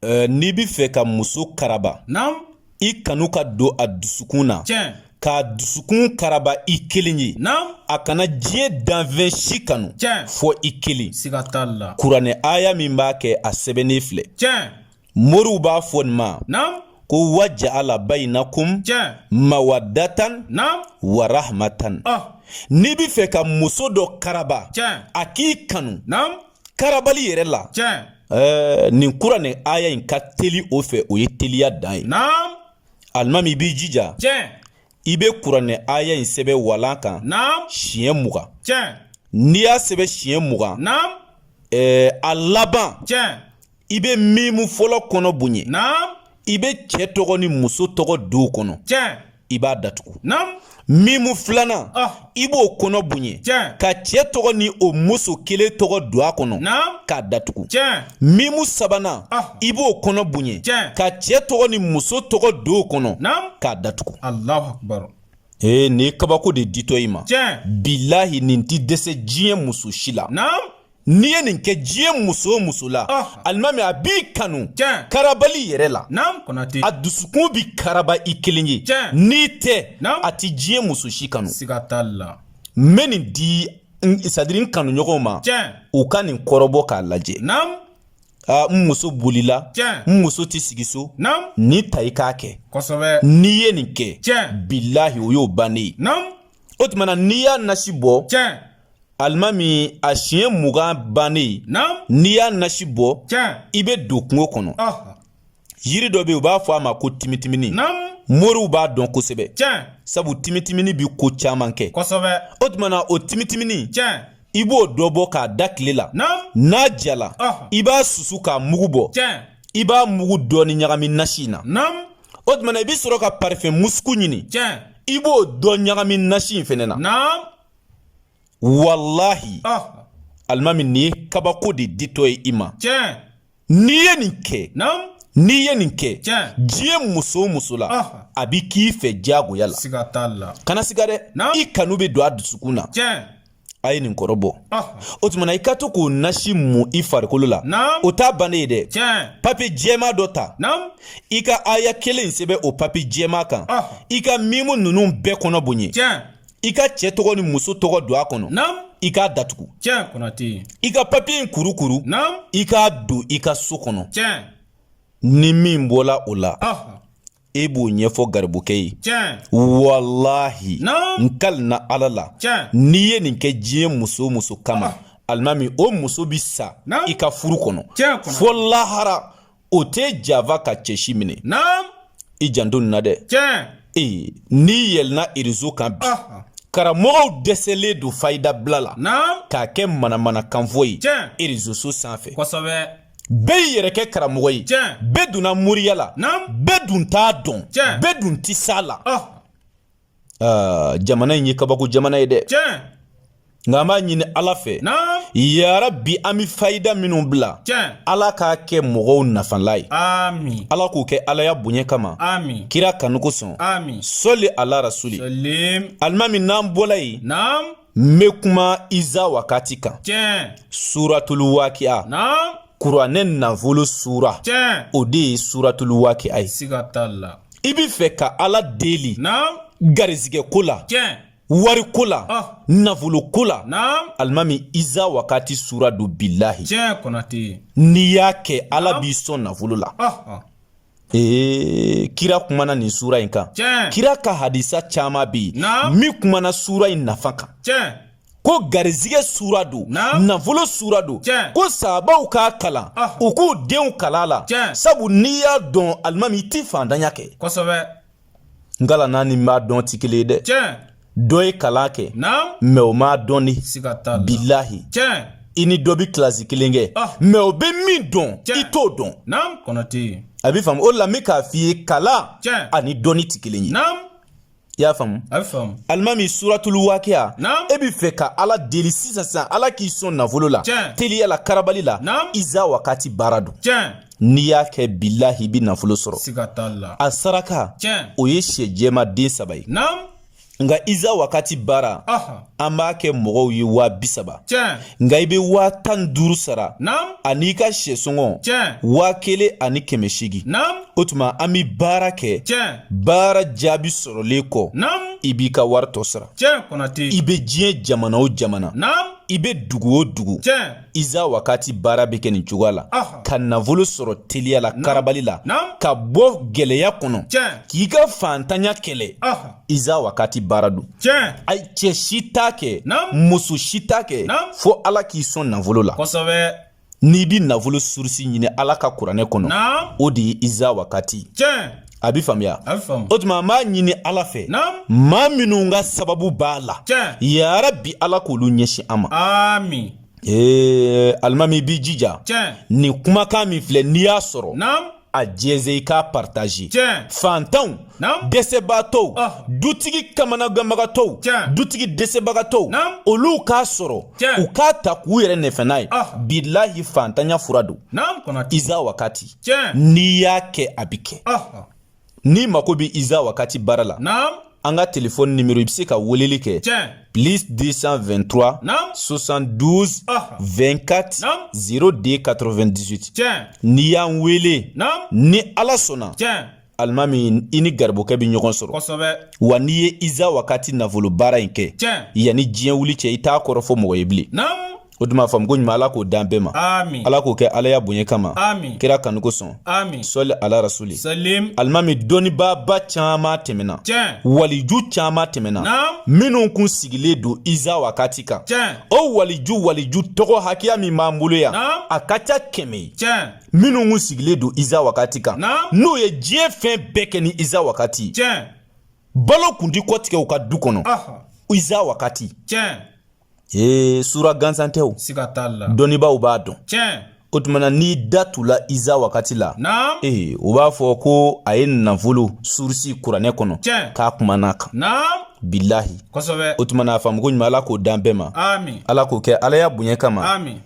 Eh, n'i bɛ fɛ ka muso karaba i kanu ka don a dusukun na k'a dusukun karaba i kelen ye a kana diɲɛ danfɛn si kanu fɔ i kelen kuranɛ aya min b'a kɛ a sɛbɛnnen filɛ moriw b'a fɔ nin ma ko waja'ala bainakum mawaddatan wa rahmatan n'i bɛ fɛ ka muso dɔ karaba a k'i kanu karabali yɛrɛ la ɛɛ nin kuranɛ aya in ka teli o fɛ o ye teliya dan ye alimami i b'i jija i bɛ kuranɛ aya in sɛbɛn walan kan siɲɛ mugan n'i y'a sɛbɛn siɲɛ mugan ɛɛ a laban i bɛ mimu fɔlɔ kɔnɔ bonya i bɛ cɛ tɔgɔ ni muso tɔgɔ don o kɔnɔ i b'a datugu mimu filanan i b'o kɔnɔ bonya ka cɛ tɔgɔ ni o muso kelen tɔgɔ don a kɔnɔ k'a datugu mimu sabanan i b'o kɔnɔ bonya ka cɛ tɔgɔ ni muso tɔgɔ don o kɔnɔ k'a datugu ee nin kabako de ditɔ i ma bilahi nin tɛ dɛsɛ diɲɛ muso si la n'i ye nin kɛ diɲɛ muso o muso la alimami a b'i kanu karabali yɛrɛ la a dusukun bi karaba i kelen ye n'i tɛ a tɛ diɲɛ muso si kanu n bɛ nin di sadiri n kanuɲɔgɔnw ma u ka nin kɔrɔbɔ k'a lajɛ aa n muso bolila n muso tɛ sigi so nin ta i k'a kɛ n'i ye nin kɛ bilahi o y'o bannen ye o tuma na n'i y'a nasi bɔ alimami a siɲɛ mugan bannen n'i y'a nasi bɔ i bɛ don kungo kɔnɔ yiri dɔ bɛ yen u b'a fɔ a ma ko timitimini moriw b'a dɔn kosɛbɛ sabu timitimini bɛ ko caman kɛ o tuma na o timitimini i b'o dɔ bɔ k'a da tile la n'a jala i b'a susu k'a mugu bɔ i b'a mugu dɔɔni ɲagami nasi in na o tuma na i bɛ sɔrɔ ka parifɛn musuku ɲini i b'o dɔ ɲagami nasi in fɛnɛ na walahi ah. alimami nin ye kabako de ditɔ ye i ma n'i ye nin kɛ n'i ye nin kɛ diɲɛ muso o muso la ah. a bi k'i fɛ diyagoya la kana siga dɛ i kanu bɛ don a dusukun na a ye nin kɔrɔbɔ ah. o tuma na i ka to k'o nasi mun i farikolo la o t'a bannen ye dɛ papiye jɛman dɔ ta i ka aya kelen sɛbɛn o papiye jɛman kan i ka mimu ninnu bɛɛ kɔnɔ bonya i ka cɛ tɔgɔ ni muso tɔgɔ don a kɔnɔ naam i k'a datugu tiɲɛ konate i ka papiye in kurukuru naam i k'a don i ka so kɔnɔ tiɲɛ ni min bɔla o la ah. e b'o ɲɛfɔ garibukɛ ye tiɲɛ walahi n kalina ala la tiɲɛ n'i ye nin kɛ diɲɛ muso o muso kama ah. alimami o muso bi sa i ka furu kɔnɔ fɔ lahara o tɛ java ka cɛsi minɛ naam i janto nin na dɛ tiɲɛ ee n'i yɛlɛnna erezo kan bi Aha. karamɔgɔw dɛsɛlen don fayida bila la naam k'a kɛ manamanakanfɔ ye Tiɲɛ. erezoso sanfɛ kosɛbɛ bɛɛ y'i yɛrɛ kɛ karamɔgɔ ye Tiɲɛ. bɛɛ donna moriya la naam bɛɛ dun t'a dɔn Tiɲɛ. bɛɛ dun tɛ s'a la Aha. jamana in ye kabako jamana ye dɛ nka an b'a ɲini ala fɛ yarabi an bɛ fayida minnu bila ala k'a kɛ mɔgɔw nafalan ye ala k'u kɛ alaya bonya kama kira kanu kosɔn sɔli ala rasuli alimami n'an bɔla yen N bɛ kuma Iza wakati kan. Tiɲɛ. Suratulu wakiya. Naam. Kuranɛ nafolo sura. Tiɲɛ. O de ye suratulu wakiya ye. Siga t'a la. I bɛ fɛ ka Ala deli. Naam. Garizigɛ ko la. Tiɲɛ. Wari ko la. Ɔh. Nafolo ko la. Naam. Alimami Iza wakati sura don bilahi. Tiɲɛ Konate. N'i y'a kɛ Ala b'i sɔn nafolo la. Ɔh. Ee kira kumana nin sura in kan kira ka hadisa caman bɛ yen min kumana sura in nafa kan ko garizigɛ sura don nafolo sura don ko sahabaw k'a kalan u k'u denw kalan a la sabu n'i y'a dɔn alimami i tɛ faantanya kɛ n kalanna ni n b'a dɔn ti kelen ye dɛ dɔ ye kalan kɛ mɛ o m'a dɔn ni bilahi i ni dɔ bi kilasi kelen kɛ ah. mɛ o bɛ min dɔn i t'o dɔn a bɛ faamu o la n bɛ k'a f'i ye kalan ani dɔnni ti kelen ye i y'a faamu alimami suratulu wakiya e bɛ fɛ ka ala deli sisan sisan ala k'i sɔn nafolo la teliya la karabali la iza wakati baara don n'i y'a kɛ bilahi i bɛ nafolo sɔrɔ siga t'a la a saraka tiɲɛ o ye shɛ jɛman den saba ye naam nka iza wakati baara an b'a kɛ mɔgɔw ye waa bi saba nka i bɛ waa tan ni duuru sara an'i ka shɛsɔngɔ waa kelen ani kɛmɛ seegin o tuma an bɛ baara kɛ baara jaabi sɔrɔlen kɔ i b'i ka wari tɔ sara i bɛ diɲɛ jamana o jamana i bɛ dugu o dugu iza wakati baara bɛ kɛ nin cogoya la ka nafolo sɔrɔ teliya la karabali la ka bɔ gɛlɛya kɔnɔ k'i ka faantanya kɛlɛ iza wakati baara don a cɛ si t'a kɛ muso si t'a kɛ fo ala k'i sɔn nafolo la n'i bɛ nafolo surusi ɲini ala ka kuranɛ kɔnɔ o de ye iza wakati a bɛ faamuya o tuma an b'a ɲini ala fɛ maa minnu ka sababu b'a la yarabi ala k'olu ɲɛsin an ma ee alimami i b'i jija nin kumakan min filɛ n'i y'a sɔrɔ a jɛnsɛn i k'a paritaze faantanw dɛsɛbaatɔw dutigi kamanaganbagatɔw dutigi dɛsɛbagatɔw olu k'a sɔrɔ u k'a ta k'u yɛrɛ nafa n'a ye bilahi faantanya fura don iza wakati n'i y'a kɛ a bɛ kɛ n'i mako bɛ iza wakati baara la an ka telefɔni nimero i bɛ se ka weleli kɛ plus 223 72 24 02 98 n'i y'an wele ni ala sɔnna alimami i ni garibokɛ bɛ ɲɔgɔn sɔrɔ kosɛbɛ wa n'i ye iza wakati nafolo baara in kɛ tiɲɛ yanni diɲɛ wuli cɛ i t'a kɔrɔ fɔ mɔgɔ ye bilen naamu o tuma faamuko ɲuman ala k'o d'an bɛɛ ma amin ala k'o kɛ alaya bonya kama amin kira kanu kosɔn amin sɔli ala rasuli salim alimami dɔnnibaaba caman tɛmɛna tiɲɛ waliju caman tɛmɛna naamu minnu kun sigilen don iza wakati kan tiɲɛ o waliju waliju tɔgɔ hakɛya min b'an bolo yan naamu a ka ca kɛmɛ ye tiɲɛ minnu kun sigilen don iza wakati kan n'u ye diɲɛ fɛn bɛɛ kɛ ni iza wakati balo kun tɛ kɔtigɛ u ka du kɔnɔ iza wakati ee sura gansan tɛ o dɔnnibaaw b'a dɔn o tuma na n'i da tula iza wakati la ee u b'a fɔ ko a ye nafolo surusi kuranɛ kɔnɔ k'a kumana kan bilahi o tuma na a faamuko ɲuman ala k'o d'an bɛɛ ma ala k'o kɛ alaya bonya kama